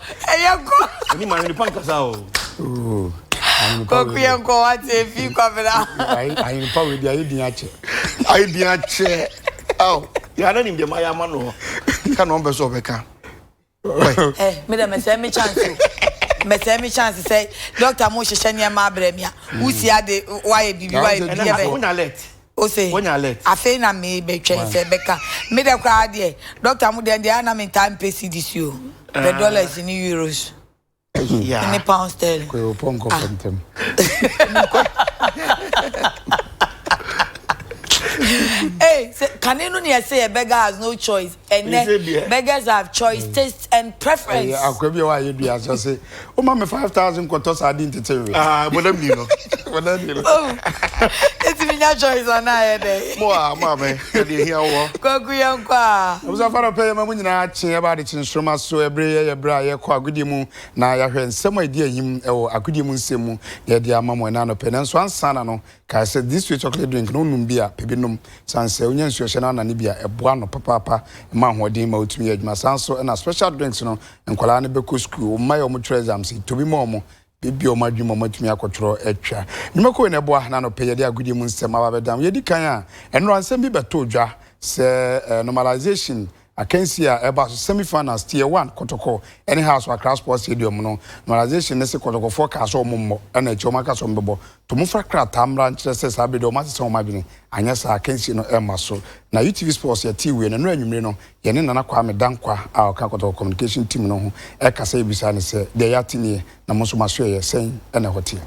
S4: ɛyɛ
S1: kɔ. Oni ma ahwene pa
S2: nkasa o. Kɔku yɛ
S1: nkɔ wa te fi kwabena. Ahwene pa wei di
S4: ayɛ din akyɛ. Ayɛ din
S2: akyɛ. Aw. Yɛ na nim deɛ ma yɛ ama no. Ka na ɔmpɛ sɛ ɔbɛka. Ɛ
S1: me dɛ mɛsɛ me chance o. Mɛsɛ me chance sɛ dɔkta mo hyehyɛ nneɛma abrɛ me a. Wusi ade wayɛ biribi wayɛ biribi yɛ bɛ. Ɛna wonya alert.
S2: Ose,
S1: Afei na
S2: merebɛtwɛn
S1: sɛ ɛbɛka. Me dɛ koraa deɛ, doctor mo deɛ, ɛnde a na mentaa mpɛ cedis o, pɛ dollars ne euros
S2: ne pound sterling.
S1: Kɔ ewopɔ nkɔ fam ntɛm. Hey, sɛ kane no ne ɛsɛ yɛ beggars no choice. ɛnɛ beggars have choice mm. taste and preference. ɛyɛ akwa bi a
S4: wayɛ dua sɛ se o ma mi five thousand kɔtɔ saa di ntete nwi. aa bɔdɛm ni no
S2: bɔdɛm ni no. o eti
S1: mi nya choice ana ayɛ dɛ. mo a mo a mɛ
S2: ɛdi ehi awɔ. kɔkɔ yɛ nkɔ a.
S1: abusa fara pɛ yɛ ma mu
S4: nyinaa kyen ɛba adi kyen soroma so ɛbere yɛ yɛ bere a yɛ kɔ agodie mu na yɛahwɛ nsɛm a edi ahim ɛwɔ agodie mu nsɛm mu na yɛde ama mo ɛna anɔpɛ nanso ansa na no. Kae sɛ, this sweet chocolate drink no wonom bi a, pɛ bi nom. San sɛ wonya nsuo hyɛ no anane bi a, ɛboa ano papaapa, ɛma ahoɔden ma wotumi yɛ adwuma. Saa ara nso na special drinks no, nkwadaa no bɛkɔ sukuu, wo mma yi a wɔtwerɛ exams yi, tɔ bi ma wɔn, bebue wɔn adwene ma wɔatumi akɔtwerɛ atwa. Nnwumakuo yi na ɛboa, na anɔpa yi yɛde agodie mu nsɛm aba abɛdan wo. Yɛdi kan a, nnora nsɛm bi bɛtoo dwa sɛ, normalization Akansi a ɛbaa so semi finals tier one Kotoko ne Hearts wɔ Accra Sports Stadium no, Normalization no se Kotokofoɔ kaa sɛ wɔn mmɔ na akyire wɔn aka sɛ wɔn bɛbɔ. To mo fa krataa mmra nkyerɛ sɛ saa bere deɛ wɔn asesa wɔn adwene, anyɛ saa a akansie no remma so. Na UTV Sports yɛtee wei no, nnora anwummere no yɛne Nana Kwame Dankwah a ɔka Kotoko Communication Team no ho kasa yɛbisaa no sɛ, deɛ yɛate nie, na mo nso mo asoɛeɛ sɛn na ɛhɔ teɛ?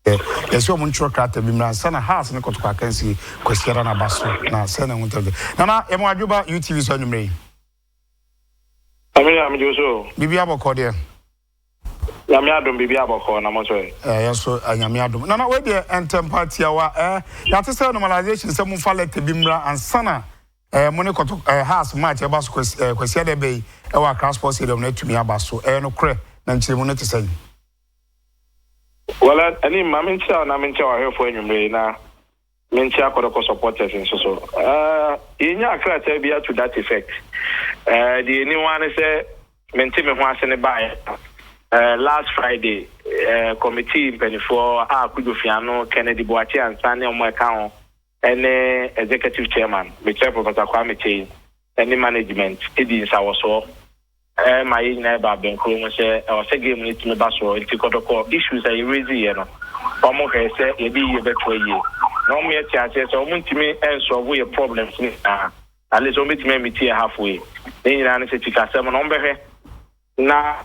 S4: Yɛ sɛ ɔmo ntwerɛ krataa bi mmra ansa na Haas ne Kɔtɔkɔ akansie Kwasiada no aba so na sɛn na ɛho ntɛm te? Nana, yɛ mo adwo ba UTV so anwummerɛ yi. Ame
S5: ya me dwoso o. Biribi abɔkɔɔ deɛ.
S4: Nyame
S5: adom biribi abɔkɔɔ na mo so ɛ. Ɛɛ yɛ so ɛ Nyame
S4: adom. Nana wei deɛ ɛntɛmpa tiawa ɛɛ yɛate sɛ normalization sɛ mo fa lɛtɛ bi mmra ansa na ɛɛ mo ne kɔtɔ ɛɛ Haas match ɛba so kwasi ɛɛ Kwasiada ɛbɛ yi ɛwɔ Accra Sports Stadium no atumi aba so ɛyɛ nokorɛ na nkyerɛmu no te sɛn? Well
S5: anim ma menkyia wo na menkyia w'ahwɛfoɔ anwumerɛ yi na menkyia Kɔdɔkɔ supporters nso so. Eh, yɛnyaa krataa bi a to that effect. Eh, deɛ ɛni ho ara ne sɛ mente me ho ase ne baeɛ a eh, last Friday eh, committee mpaninfoɔ a Kojo Fiano, Kennedy Boakye Ansah ne wɔn a ɛka ho ne Executive Chairman, Mesrɛ Professor Kwame Kyei ne Management di nsawɔsoɔ ma yɛn nyinaa yɛba bɛnkoro ho sɛ ɛwɔ sɛ game no tumi ba soɔ nti kɔtɔkɔ issues a yɛ raise yɛ no wɔn hwɛɛ sɛ yɛde yie bɛtoa yie na wɔn yɛ te aseɛ sɛ wɔn ntumi nsɔlvo yɛ problems no nyinaa at least wɔn bɛtumi amiti yɛ halfway ne nyinaa no sɛ sikasɛm no wɔn bɛhwɛ na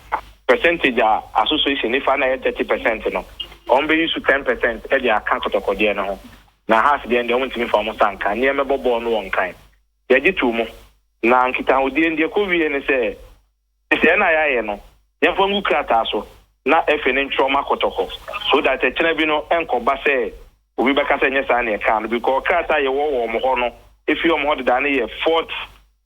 S5: percentage a association no fa no a ɛyɛ thirty percent no, wɔbɛyi so ten percent de aka kɔtɔkɔdeɛ no ho. Na Haas deɛn deɛ, wɔntumi mfa wɔn nsa nka, nea ɛmmɛbɔ bɔɔl no wɔ Nkan. Yɛgye too mu. Na nkitahodie no, deɛ ɛkɔwieeɛ ne sɛ, Nhyehyɛeɛ no a yɛayɛ no, yɛmfa ngu krataa so na FA no ntwerɛ mma kɔtɔkɔ, so that ɛkyena bi no ɛnkɔba sɛ obi bɛka sɛ ɛnyɛ saa na yɛkaa no, because krataa a yɛwɔ wɔ wɔn hɔ no, ɛfiri wɔn hɔ dedaa no yɛ forty.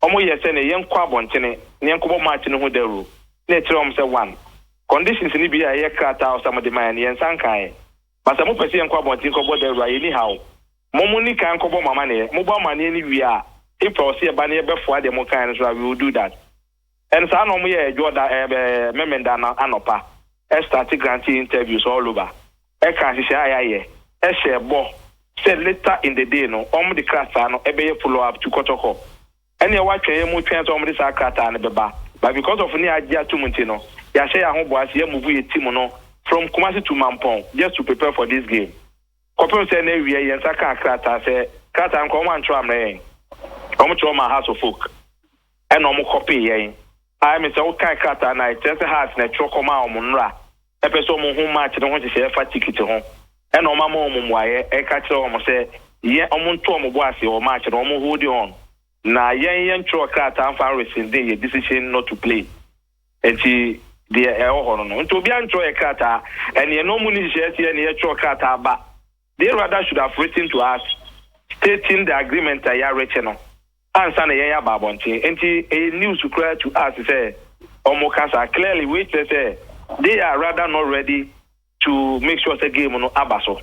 S5: wɔyɛɛ sɛ nea yɛnkɔ abɔntene na yɛnkɔbɔ match no ho dawuru, na yɛkyerɛɛ wɔn sɛ one, conditions no bi a ɛyɛ krataa a wɔsam de ma yɛn no, yɛn nsa nkaa ɛ. Ma sɛ mopɛ sɛ yɛnkɔ abɔnten nkɔbɔ dawuru a, yenni haw. Mo mo nni kan nkɔbɔ mo amanneɛ. Mobɔ amanneɛ no wie a, if pɛ ɔse yɛba na yɛbɛfoa deɛ mokaeɛ no nso a, we will do that. And saa na wɔyɛɛ Ɛdwoɔ da, ɛɛ, Memeneda anɔpa, starte granting interviews all over. ɛka nhyehyɛe a yɛayɛ, hyɛɛ bɔ sɛ later in the day no wɔde krataa no bɛyɛ follow up to Kɔtɔkɔ. Ɛnneɛ wɔatwɛn yɛ mu twɛn sɛ wɔde saa krataa no bɛba, but because of nea agye atom nti no, yɛahyɛ yɛn ahoboa sɛ yɛamovu yɛn team no from Kumasi to Mampɔn just to prepare for this game. Kɔpem sɛ na awiei yɛn nsa kaa krataa sɛ krataa no koraa wɔantwerɛ ammrɛ yɛn. Wɔkyerɛw maa Hearts of Oak ɛnna wɔkɔpee yɛn. Ayɛ me sɛ wokan krataa no a, ɛkyerɛ sɛ Hearts na ɛtwerɛ kɔmaa wɔn, nnora pɛ sɛ wɔn hu match no ho nhyehyɛɛ ɛfa ticket ho ɛna wɔn ama wɔn mmuaeɛ ɛka kyerɛ wɔn sɛ yɛn wɔn nto wɔn bo ase wɔ match no wɔn hold on na yɛn yɛn ntwerɛ krataa mfa nrescinde yɛn decision not to play nti deɛ ɛwɔ hɔ no no nti obiara ntwerɛ yɛn krataa ɛne yɛn wɔn ni nhyehyɛɛ sɛ yɛne yɛtwerɛ krataa ba they rather should have written to us stating the agreement a yɛarekyɛ no. ansa na yɛn aba abɔnten nti ɛyɛ news koraa to us sɛ wɔn ka saa clearly wei kyerɛ sɛ they are rather not ready to make sure sɛ game no aba so.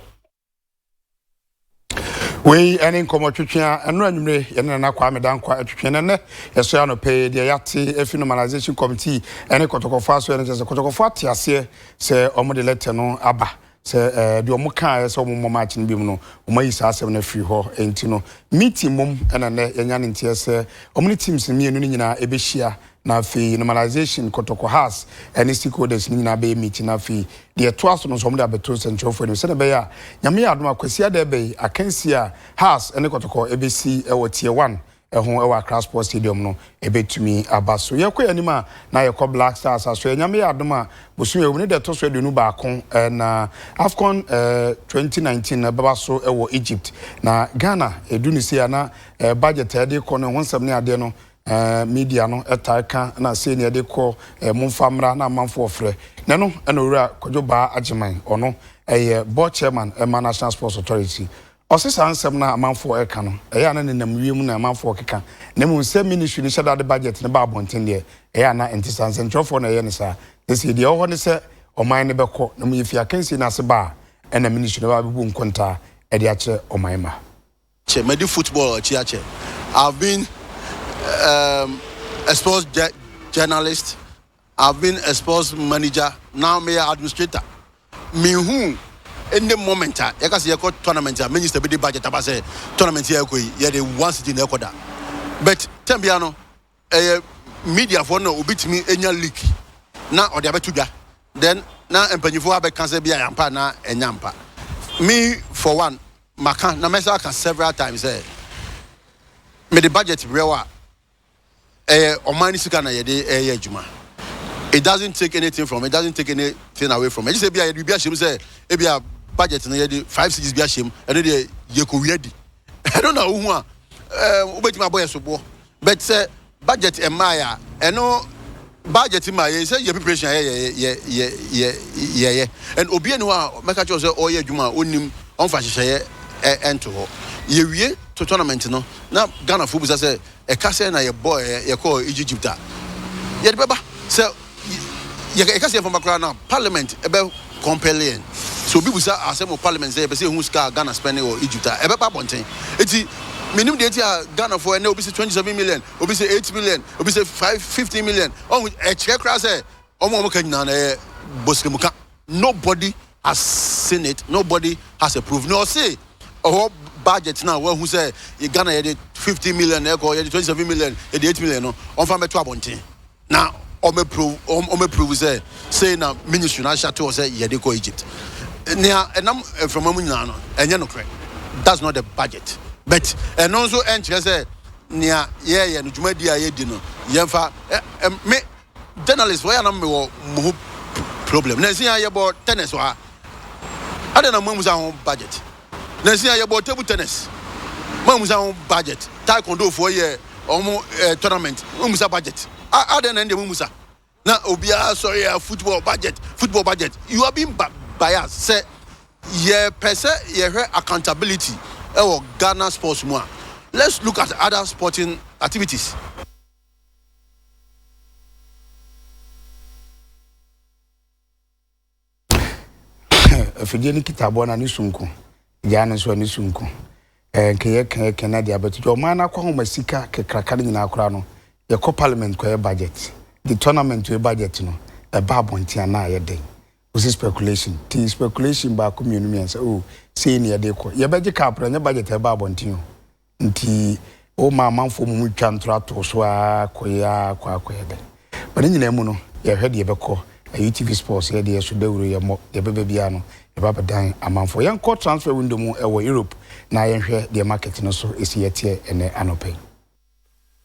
S4: wei ɛne nkɔmɔ twetwe a ɛno anwummere yɛne nana kwame dankwa atwetwe no nnɛ yɛsɔ yɛ anɔpɛ deɛ yɛate afi normalization committee ɛne kɔtɔkɔfoɔ aso ɛne kyɛ sɛ kɔtɔkɔfoɔ ate aseɛ sɛ wɔn de lɛtɛ no aba Sɛ eh, deɛ wɔn kaeɛ sɛ wɔn mmɔ march no biom no, wɔn ayi saa asɛm no afiri hɔ. Enti no, meeting mmom ɛna nnɛ yɛanya ne nteɛ sɛ wɔn ne teams no mmienu no nyinaa ɛbɛhyia, na afei normalization, kɔtɔkɔ has, ɛne stakeholders no nyinaa bɛyɛ meeting, na afei deɛ ɛtoa so no nso wɔn de abɛto nsɛnkyerɛwfoɔ anim sɛdeɛ ɛbɛyɛ a Nyame yɛ adom a Kwasiada ɛbɛ yi, akansie a has ɛne kɔtɔkɔ ɛbɛsi wɔ tier one ho wɔ Accra Sports Stadium no bɛtumi aba. So yɛkɔ yɛn anim a, na yɛkɔ Black Stars asoɛ. Nyame yɛ adom a, bosome wɔ mu no deɛ ɛtɔ so aduonu baako na AFCON 2019 no ɛbɛba so wɔ Egypt. Na Ghana ɛdu no sei a na budget a ɛde kɔ no ho nsɛm ne adeɛ no media no ɛtaa ka na sei ne ɛde kɔ momfa mmra na amanfo ɔfrɛ. Na ɛno ɛna owura Kwadwo Baa Agyeman ɔno ɛyɛ board chairman ɛma National Sports Authority Ɔse saa nsɛm no a amanfoɔ reka no, ɛyɛ a na nenam wiem na amanfoɔ rekeka, na mmom sɛ ministry no hyɛ da de budget no ba abɔnten deɛ, ɛyɛ a na ɛnte saa. Nsɛnkyerɛwfoɔ na ɛyɛ no saa. Na sei deɛ ɛwɔ hɔ ne sɛ ɔman no bɛkɔ, na mmom yɛfiri akansie no ase ba a, ɛna ministry no bɛba abɛbu nkontaa de akyerɛ ɔman mma. Kyɛ madi
S6: football akyi akyɛ. I've been a sports journalist. I've been a sports manager now meyɛ administrator menhu any moment a yɛka sɛ yɛkɔ tournament a minister bi de budget aba sɛ tournament yɛ ɛkɔ yi yɛde one city na ɛkɔ da but time biara no ɛyɛ mediafoɔ no na obi tumi nya leak na ɔde abɛto dwa then na mpanyinfoɔ abɛka sɛ bi a yɛampa na ɛnya mpa me for one maka na mɛsa aka several times sɛ mede budget brɛ wo a ɛyɛ ɔman ne sika na yɛde ɛyɛ adwuma it doesn't take anything from it doesn't take anything away from it ɛgye sɛ ebi a yɛde biribi ahyɛ mu sɛ ebi a budget no yɛde five cities bi ahyɛ mu ɛno deɛ yɛkɔwia di ɛno na wohu a wobɛtumi abɔ yɛ soboɔ but sɛ budget ɛmmaeɛ a ɛno budget ma yɛ sɛ yɛ preparation a yɛyɛ and obia ni hɔ a mɛka kyerɛ sɛ ɔyɛ adwuma a ɔnnim ɔmfa hyehyɛeɛ ɛnto hɔ yɛwie to tournament no na ghanafoɔ bisa sɛ Ɛka sɛ na yɛbɔɔ ɛ yɛkɔɔ Egygypt a yɛde bɛba sɛ yɛ yɛka sɛ yɛmfa mba koraa no a parliament bɛ compel yɛn sɛ obi busa asɛm wɔ parliament sɛ yɛpɛ sɛ yɛhu sika a Ghana spend wɔ Egypt a ɛbɛba abɔnten nti menim deɛ nti a Ghanafoɔ ɛnɛ obi sɛ twenty seven million obi sɛ eight million obi sɛ five fifteen million ɔhu ɛkyerɛ koraa sɛ Wɔn a wɔka nyinaa no ɛyɛ bɔsrɛmuka nobody has seen it nobody has a proof na ɔse ɔhɔ budget no a wɔahu sɛ yɛ Ghana yɛde fifty million na ɛkɔ yɛde twenty seven million yɛde eight million no wɔmfa mɛto abɔnten na wɔmɛ prove wɔmɛ prove sɛ sei na ministry no ahyɛ ato hɔ sɛ yɛde kɔ Egypt nea ɛnam mframa mu nyinaa no ɛnyɛ nokorɛ that's not the budget but ɛno nso ɛnkyerɛ sɛ nea yɛyɛ no dwumadi a yɛdi no yɛmfa ɛ ɛ me Journalist wɔ yɛ a na me wɔ mo ho problem nanso yɛn a yɛ bɔ tennis wɔ ha adɛn na mo amusa ho budget nanso yɛn a yɛ bɔ table tennis mo amusa ho budget taekwondo foɔ yɛ ɔmo eh, tournament mo amusa budget adɛn na ɛndeɛ mo amusa na obiara sɔre yɛ football budget football budget you are being biased sɛ yɛ pɛ sɛ yɛ hwɛ accountability ɛwɔ Ghana sports mu a let's look at other sporting activities.
S4: Afidie no kita aboa no ani so nko. Gyaa no nso ani so nko. Eh, nka yɛka yɛka na de abɛto dwa. Ɔman no akɔ ahoma sika kakraka no nyinaa koraa no, yɛkɔ parliament kɔyɛ budget. The tournament yɛ budget no, ɛba abɔnten a na ayɛ den. Wosi speculation. Ti speculation baako mmienu mmiɛnsa, oh, sei ne yɛde kɔ. Yɛbɛgye cup no, ɛnyɛ budget a ɛba abɔnten o. Nti woma amanfoɔ mmom twa ntorɔ ato so ara kɔyɛ ara kɔ ara kɔyɛ dɛn? But ne nyinaa mu no, yɛhwɛ deɛ ɛbɛkɔ, na UTV Sports yɛ deɛ so dawuro yɛmmɔ, deɛ ɛbɛba biara no yɛba abɛdan amanfoɔ. Yɛnkɔ transfer window mu wɔ Europe na yɛnhwɛ deɛ market no so si yɛteɛ ɛnnɛ anɔpa yi.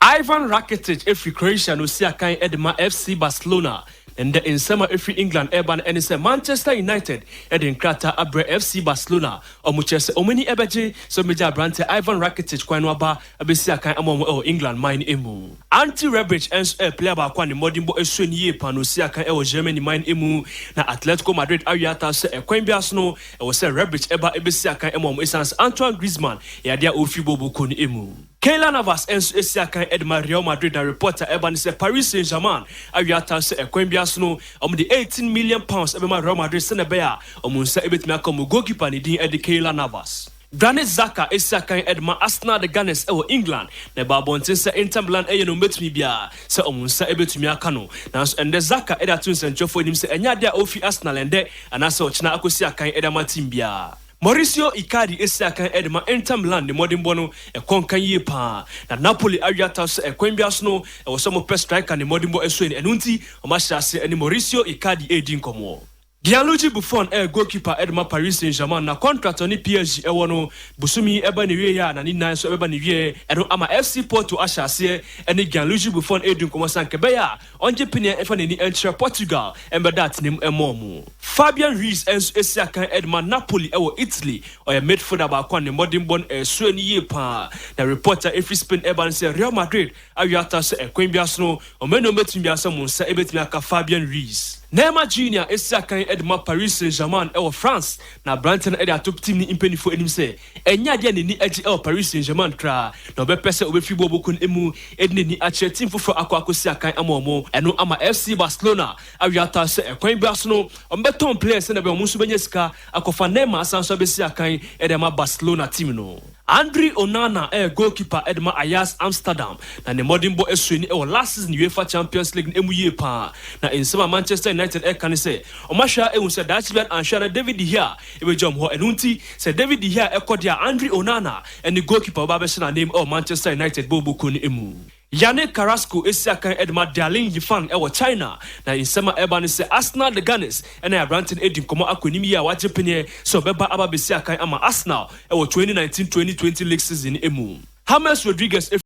S7: Ivan Rakitic fi Croatia na osi akan de ma FC Barcelona, na nnɛ nsɛm a efi England reba no ne sɛ Manchester United de nkrataa abrɛ FC Barcelona a wɔkyerɛ sɛ wɔn ani bɛgye sɛ wobegye aberante Ivan Rakitic kwan no aba abesi akan ama wɔn wɔ England man no mu. Ante Rebic nso yɛ player baako a ne mmɔdenbɔ sua no yiye paa na osi akan wɔ Germany man no mu, na Atletico Madrid awe ata sɛ ɛkwan biara so no ɛwɔ sɛ Rebic ba besi akan ma wɔn esiane sɛ Antoine Griezmann yɛ ade a ofi booboo kɔ no mu. Keylor Navas nso asi akan de ma Real Madrid na report a ɛreba ne sɛ Paris Saint-Germain awe atan sɛ ɛkwan biara so no wɔde eighteen million pounds bɛma Real Madrid sɛnea ɛbɛyɛ a wɔn nsa betumi aka wɔn goalkeeper a ne din de Keylor Navas. Granit Xhaka asi akan de ma Arsenal the Gunners wɔ England na ɛbaa abɔnten sɛ Inter Milan reyɛ nea wɔbetumi biara sɛ wɔn nsa betumi aka no. Nanso ɛnnɛ Xhaka de ato nsɛnkyerɛwfo anim sɛ ɛnyɛ ade a ofi Arsenal ɛnnɛ anaasɛ ɔkyena akosi akan de ama team biara. Maurizio Icardi asi akan de ma Inter Milan ne mmɔdenbɔ no kɔ nka yie paa, na Napoli awe ataaw sɛ ɛkwan biara so no ɛwɔ sɛ wɔpɛ striker ne mmɔdenbɔ ɛsoɛni, ɛno nti wɔahyɛ aseɛ ne Maurizio Icardi redi nkɔmmɔ. Gianluigi Buffon yɛ goalkeeper de ma Paris Saint-Germain, na contract a ɔne PSG wɔ no bosome yi ɛba n'awieɛ a na ne nan nso ɛbɛba n'awieɛ, ɛno ama FC Porto ahyɛ aseɛ ne Gianluigi Buffon redi nkɔmmɔ sɛ anka ɛbɛyɛ a Ɔngye pene mfa n'ani nkyerɛ Portugal mmɛda atenamu mmɔɔ mu. Fabian Ruiz nso asi akan de ma Napoli wɔ Italy. Ɔyɛ midfielder baako a ne mmɔdenbɔ no reso ani yie pa ara, na report a ɛfiri Spain reba ne sɛ Real Madrid awe ata sɛ ɛkwan biara so no wɔn anuanom bɛtumi biara sɛ mo nsa bɛtumi aka Fabian Ruiz. Neymar Junior asi akan de ma Paris Saint-Germain wɔ France, na aberanteɛ no de ato team no mpanimfoɔ anim sɛ Ɛnyɛ ade a n'ani agye wɔ Paris Saint-Germain koraa na ɔbɛpɛ sɛ obefi boɔ bokun mu de n'ani akyerɛ team foforɔ akɔ akosi akan ama wɔn. Ɛno ama FC Barcelona awe ataa sɛ ɛkwan biara so no wɔbɛtɔn players sɛnea ɛbɛyɛ a wɔn nso benya sika akɔfa Neymar asan nso abesi akan de ama Barcelona team no. Andre Onana yɛ goalkeeper de ma Ajax Amsterdam na ne mmɔdenbɔ sui no wɔ last season UEFA Champions League no mu yie paa na nsɛm a Manchester United reka ne sɛ wɔahwɛ ara ahu sɛ daakye biara anhwɛ a na David De Gea Ebegya wɔn hɔ. Ɛno nti, sɛ David de hia a ɛkɔ de a, Andre Onana ne goalkeeper bɛba abɛhyɛ n'anan mu wɔ Manchester United bɔɔlbɔ kuo no mu. Yannick Carrasco asi akan de ma Dialing Yifang wɔ China, na nsɛm a ɛreba ne sɛ Arsenal de Gunners ne aberante no adi nkɔmmɔ akɔ anim yie a wagye pene sɛ ɔbɛba aba abɛsi akan ama Arsenal wɔ twenty nineteen, twenty twenty league season no mu. James Rodriguez